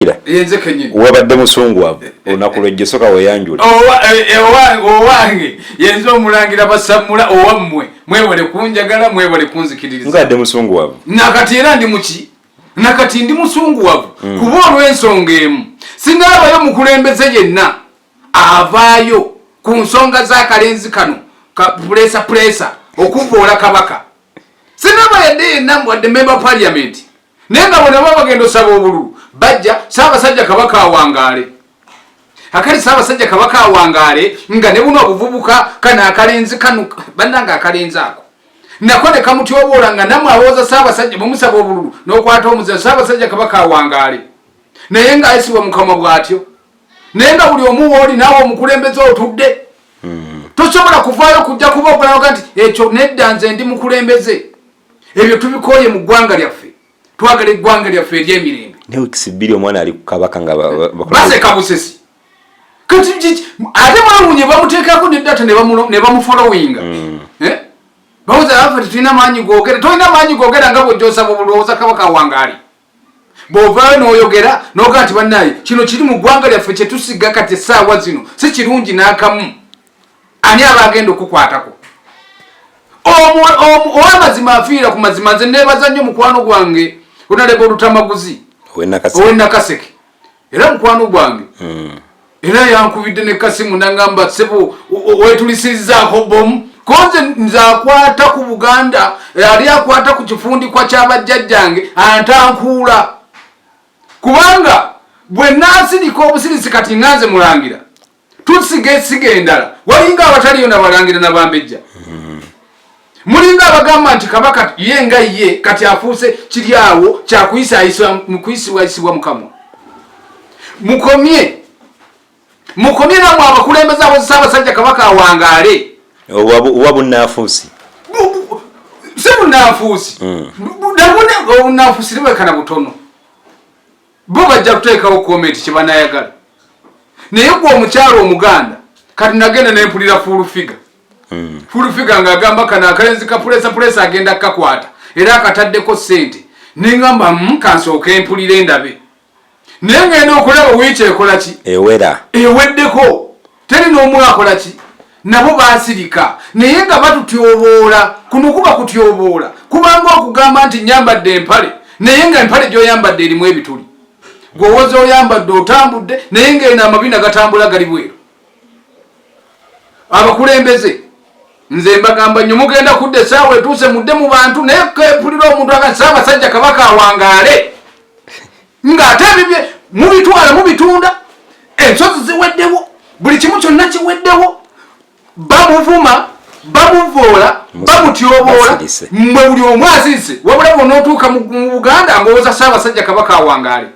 Ira wabadde musungwavu olunaku lwejjo soka weyanjula eh, eh, owange yenze omulangira basamula owammwe mwebale kunjagala mwebale kunzikiririzade musungwavu nakati era ndi muki nakati ndi musungwavu hmm. kuba olw'ensonga emu singa abayo mukulembeze yenna avaayo ku nsonga z'akalenzi kano kapulesa pulesa okuvoola kabaka sinaba yadde yenna mbwadde memba paliamenti naye nga bona baba bagenda osaba obululu bajja saabasajja kabaka awangaale akali saabasajja kabaka awangaale nga ne buno obuvubuka kano akalenzi kano bannanga akalenzi ako nako ne kamutyoboola nga namwe awooza saabasajja mumusaba obululu n'okwata omuzira saabasajja kabaka awangaale naye nga ayisibwa mukama bw'atyo naye nga buli omu wooli naawe omukulembeze otudde hmm. tosobola kuvaayo kujja kuba ogulaga nti ekyo nedda nze ndi mukulembeze ebyo tubikooye mu ggwanga lyaffe twagala eggwanga lyaffe eryemirembe newikisibbiri omwana ali kukabaka nga baseka busesi kati ate mwawunye bamuteekako ne data ne bamufolowinga mm. eh? bawoza afe tetulina maanyi gogera tolina maanyi gogera nga bwejosaba obulowooza kabaka wangaali bwovaayo noyogera noga nti banaye kino kiri mu ggwanga lyaffe kyetusiga kati esaawa zino si kirungi n'akamu ani aba agenda okukwatako owamazima afiira ku mazima nze nebaza nnyo mukwano gwange onaleba olutamaguzi owenakaseke era mukwano gwange hmm. era yankubidde ne kasimu nangamba sebo wetulisizaako bomu koze nze akwata ku buganda ali akwata ku kifundikwa kyabajjajjange antankuula kubanga bwe nasirika obusirisi kati nganze mulangira tusiga esiga endala walinga abataliyo nabalangira nabambejja mulinga abagamba nti kabaka ye nga ye kati afuuse kiri awo kyakuyisibwayisibwa mukamwa mukomye mukomye namwe abakulembeza abozesa abasajja kabaka awangaale oba bunafuusi si bunafuusi hmm. nabunafuusi libwekana butono bo bajja kuteekawo komenti kyebanayagala naye gwe omukyalo omuganda kati nagenda nempulira full figa hmm. full figa nga agamba kana akalenzi kapulesa pulesa agenda kukakwata era akataddeko sente nengamba hmm, kansooka empulira endabe naye ngenda okulaba wiiki ekolaki ewera eweddeko teri n'omu akola ki nabo basirika naye nga batutyoboola kuno kuba kutyoboola kubanga okugamba nti nyambadde empale naye nga empale gyoyambadde erimu ebituli gwewoza oyambadde otambudde naye nga eno amabina gatambula gali bweru abakulembeze nze mbagamba nyo mugenda kudda esaawa etuuse mudde mu bantu naye kepulira omuntu agasaawa basajja kabaka awangaale ng'ate ebibye mubitwala mubitunda ensozi ziweddewo buli kimu kyonna kiweddewo bamuvuma bamuvoola bamutyoboola mwe buli omu azize wabula bona otuuka mu buganda ngaowoza saabasajja kabaka awangaale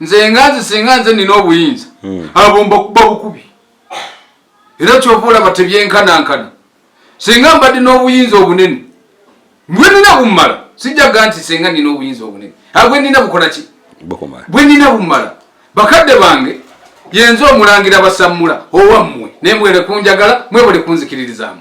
nze nga nze singa nze nina obuyinza hmm. abo mbakuba bukubi era kyova olaba tebyenkanankana senga mbadde n'obuyinza obunene bwenina bumala sijjaga nti senga nina obuyinza obunene a bwenina bukola ki bwenina bumala bakadde bange yenze omulangira basammula owammwe naye mwere kunjagala mwebale kunzikiririzaamu